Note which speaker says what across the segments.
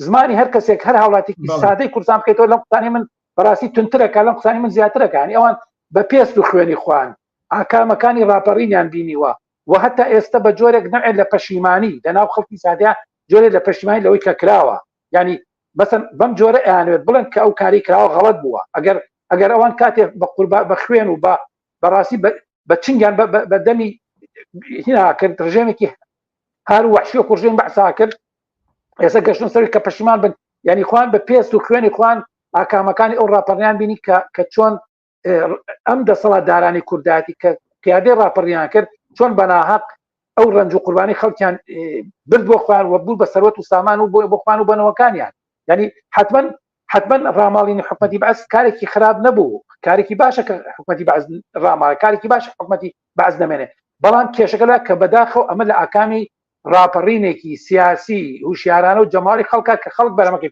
Speaker 1: زمانی هەر کەسێک هەر هاوڵاتێکی سادەی کوردستان بکەیتەوە لەم قوتانی من بەڕاستی تونترەکە لەم قوتانی من زیاترەکانی ئەوان بە پێست و خوێنی خوان ئاکامەکانی ڕاپەڕینیان بینیوە و هەتا ئێستا بە جۆرێک نەعێت لە پەشیمانی لەناو خەڵکی سادە جۆرێ لە پەشیمانی لەوەی کە کراوە ینی بەسن بەم جۆرە ئەیانوێت بڵێن کە ئەو کاری کراوە غەڵت بووە ئەگەر ئەگەر ئەوان کاتێ بە قوربا بە خوێن و بە بەڕاستی بە چنگیان بە دەمی هینا کرد ڕژێمێکی هەر وحشی و کوڕژێن بەسا کرد ئێستا گەشتن سەر کە پەشیمان بن ینی خوان بە پێست و خوێنی خوان ئاکامەکانی ئەو ڕاپەڕیان بینی کە کە چۆن ئەم دەسەڵات دارانی کوردایەتی کە قیادی ڕاپەڕیان کرد چۆن بەناهق ئەو ڕنج و قوربانی خەڵکیان برد بۆ خوان و بوو بە سەرەت و سامان و بۆ بخوان و بنەوەکانیان ینی حتمما حتمما ڕاماڵینی حکومەتی بەس کارێکی خراپ نەبوو کارێکی باشە کە حکومەتی بەز ڕاماڵە کارێکی باش حکومەتی بەز نامێنێ بەڵام کێشەکەدا کە بەداخەوە ئەمە لە ئاکامی ڕاپەڕینێکی سیاسی هوشیارانە و جەماوەری خەڵکە کە خەڵک بەرەمەکەی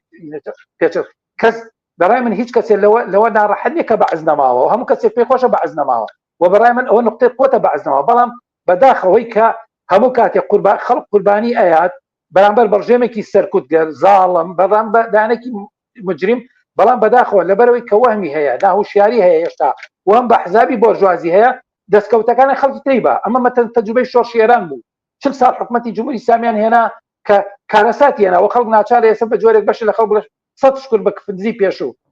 Speaker 1: پێچە کەس بەڕای من هیچ کەسێ لەوە لەوە ناڕەحەت نیە کە بەعز نەماوە و هەموو کەسێک پێی خۆشە بەعز نەماوە و بەڕای من ئەوە نقطەی قوتە بەعز نەماوە بەڵام بەداخەوەی کە هەموو کاتێک قوربا خەڵک قوربانی ئەیات بەرامبەر بەڕژێمێکی سەرکوتگەر زاڵم بەڕام بە دانێکی مجریم بەڵام بەداخەوە لەبەرەوەی کە وەهمی هەیە ناهوشیاری هەیە هێشتا وەم بە حزابی بۆرژوازی هەیە دەستکەوتەکانی خەڵکی تری بە ئەمە مەتەن تەجوبەی شۆڕشی ئێران بوو چل ساڵ حکومەتی جمهوری ئیسلامیان هێنا کە کارەساتی هێنا و خەڵک ناچار ئێستا بە جۆرێک بەشی لە خەڵک بڵێ سەد شکر بە کفندزی پێشوو